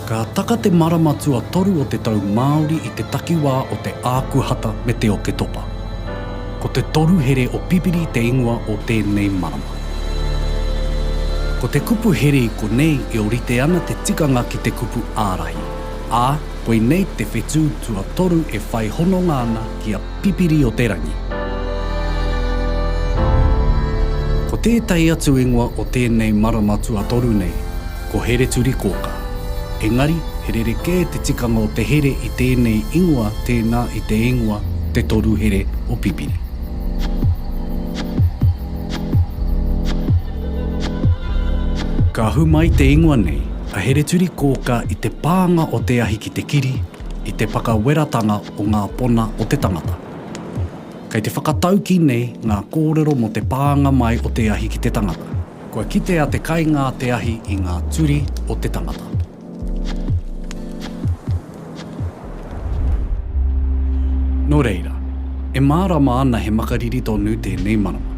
Ka taka te marama tuatoru o te tau Māori i te takiwā o Te Ākuhata me Te Oketopa. Ko te toru here o Pipiri te ingoa o tēnei marama. Ko te kupu here i konei e orite ana te tikanga ki te kupu ārahi, ā, koinei te whetū tuatoru e whai hononga ana ki a Pipiri-o-te-rangi. Ko tētahi atu ingoa o tēnei marama tuatoru nei, ko Hereturikōkā. Engari, he rerekē te tikanga o te here i tēnei ingoa tēnā i te ingoa Te Toru Here o Pipiri. Ka ahu mai te ingoa nei a Hereturi Kōka i te pānga o te ahi ki te kiri, i te whakaweratanga o ngā pona o te tangata. Kei te whakataukī nei ngā kōrero mō te pānga mai o te ahi ki te tangata. Kua kitea te kaingā te ahi i ngā turi o te tangata. Nō reira, e mārama ana he makariri tonu tēnei marama.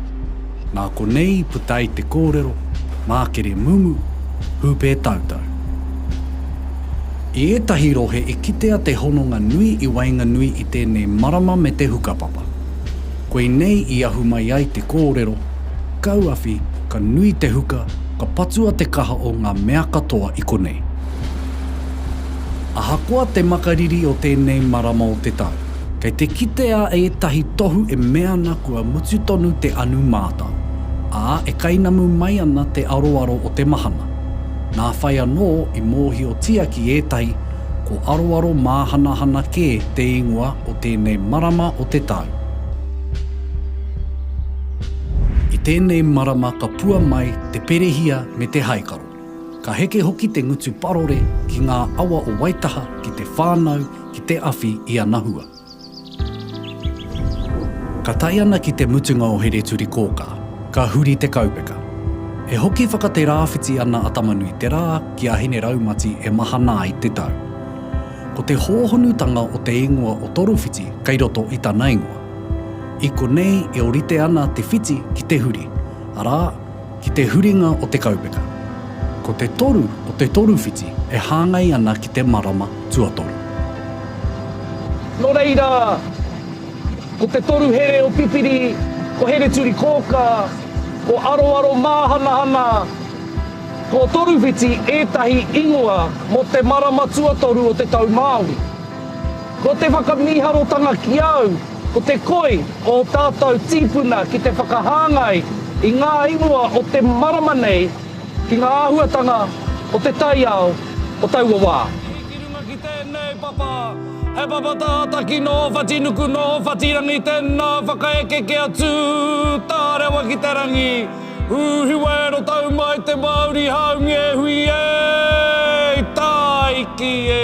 Nā konei i puta ai te kōrero, mākere mumu, hūpē tautau. I ētahi rohe i kitea te hononga nui i waenganui i tēnei marama me te hukapapa. Koinei i ahu mai ai te kōrero, Kauawhi, ka nui te huka, ka patua te kaha o ngā mea katoa i konei. Ahakoa te makariri o tēnei marama o te tau, kei te kitea ētahi tohu e mea ana kua mutu tonu te anu mātao, ā, e kainamu mai ana te aroaro o te mahana. Nā whai anō i mōhiotia ki ētahi, Ko Aroaro Māhanahana kē te ingoa o tēnei marama o te tau. I tēnei marama ka pua mai te perehia me te haikaro. Ka heke hoki te ngutu parore ki ngā awa o Waitaha ki te whānau, ki te awhi i ana hua. Ka tae ana ki te mutunga o Hereturikōkā, ka huri te kaupeka. E hoki whakaterāwhiti ana a Tamanuiterā ki a Hineraumati e mahana ai te tau. Ko te hōhonutanga o te ingoa o Torowhiti kei roto i tana ingoa. I konei e orite ana te whiti ki te huri, arā, ki te huringa o te kaupeka. Ko te toru o te toru whiti e hāngai ana ki te marama tuatoru. Nō reira, ko te toru here o Pipiri, ko Hereturikōkā, ko Aroaromāhanahana, ko Toruwhiti ētahi ingoa mō te marama tuatoru o te tau Māori. Ko te whakamīharotanga ki au, ko te koi ō tātou tīpuna ki te whakahāngai i ngā ingoa o te marama nei ki ngā āhuatanga o te taiao o taua wā. Ki runga ki tēnei papa, he papa tātaki nō Whatinuku, nō Whatirangi, tēnā whakaeke kia tū tā rewa ki te rangi, Hūhi wēro tau mai te Māori haumi e hui e, Tāiki e.